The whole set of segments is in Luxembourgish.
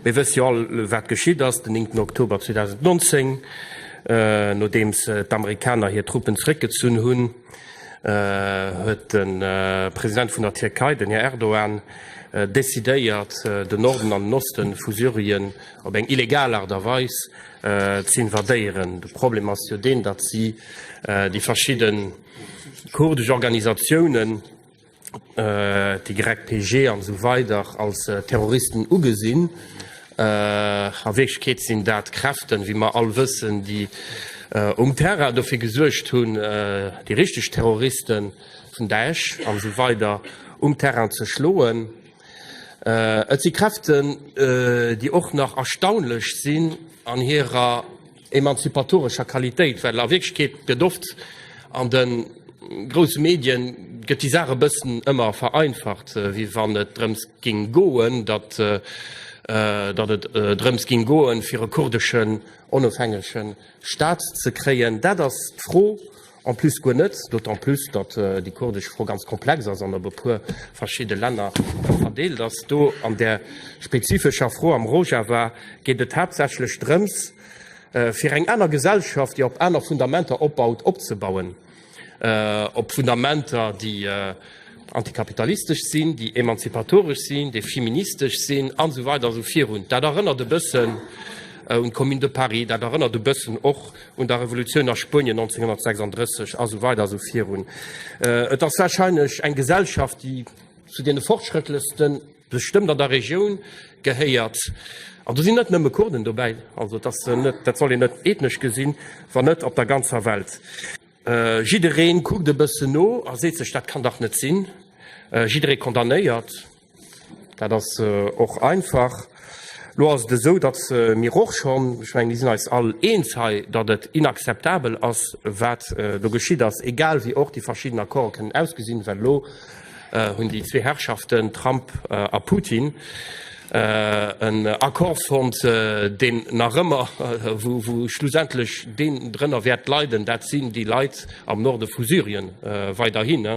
Mir wësse jo all, wat geschitt ass den 9 Oktober 2019. Nodeems d'Amerikaner hir Truppen zeréckgezunn hunn, huet de President vun der Tierkei, den Här Erdogan, decidéiert, den Norden an den Oste vu Syrien op eng illegal Aart a Weis ze invadéieren. De Problem ass jo deen, datt si déi verschidde kurdesch Organisatiounen, d'YPG an esou weider als Terroristen ugesinn. A Wierklechkeet sinn dat Kräften, wéi mer all wëssen, déi um Terrain dofir gesuergt hunn, déi richteg Terroristen, vun Daesh an esou weider, um Terrain ze schloen. Et si Kräften, déi och nach erstaunlech sinn an hirer, emanzipatorescher Qualitéit, well a Wierklechkeet gëtt oft an de grousse Medien gëtt déi Saach e bëssen ëmmer vereinfacht, wéi wann et drëms géing goen, datt datt et drëms géing goen, fir e kurdeschen onofhängege Staat ze kréien. Dat ass d'Fro, En plus guer net, d'autant plus datt déi kurdesch Fro ganz komplex ass an op e puer verschidde Länner verdeelt ass. Do an där spezifescher Fro am Rojava geet et haaptsächlech drëms, fir eng aner Gesellschaft, déi op aner Fundamenter opbaut, opzebauen, op Fundamenter, déi antikapitalistesch sinn, déi emanzipatoresch sinn, déi feministesch sinn an esou weider an esou virun. Dat erënnert e bëssen un d'Commune de Paris, dat erënnert e bëssen och, un der Revolutioun a Spuenien 1936 a sou weider a sou virun. Et ass warscheinlech eng Gesellschaft, déi zu deene fortschrëttlechste bestëmmt an der Regioun gehéiert. An do sinn net nëmme Kurden dobäi, also dat soll een net ethnesch gesinn, wann net op der ganzer Welt. Jidderee kuckt e bëssen no a seet sech, dat kann dach net sinn, jidderee condamnéiert. Dat ass och einfach. Elo ass et esou, datt mir och schonn, ech mengen, mir sinn eis all eens hei, datt et inakzeptabel ass, wat do geschitt ass, egal wéi och déi verschidden Accorde kënnen ausgesinn, well elo hunn déi zwee Herrschaften Trump a Putin en Accord fonnt, deen nach ëmmer, wou schlussendlech deen drënner wäert leiden, dat sinn déi Leit am Norde vu Syrien weiderhin.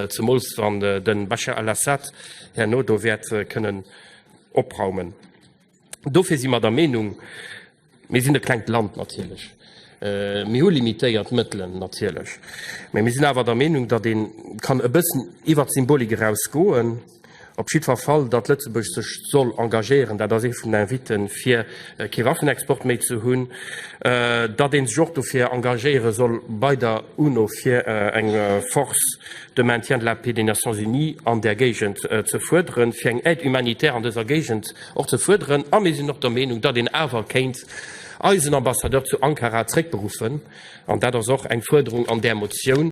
zemools wann de Bashar al-Assad herno do wäert kënnen opraumen. Dofir si mer der Meenung, mir sinn e klengt Land natierlech, mir hu limitéiert Mëttelen natierlech, mä mir sinn awer der Meenung, datt ee kann e bëssen iwwer d'Symbolik eraus goen, Op jiddwer Fall, datt Lëtzebuerg sech soll engagéieren, dat ass ee vun den Invitten, fir kee Waffenexport méi ze hunn, datt ee sech och dofir engagéiere soll bei der UNO, fir eng Force de maintien de la paix des Nations unies an där Géigend ze fuerderen, fir eng Aide humanitaire an dëser Géigend och ze fuerderen. A mir sinn och der Meenung, datt een awer kéint eisen Ambassadeur zu Ankara zréckberuffen. An dat ass och eng Fuerderung an där Motioun.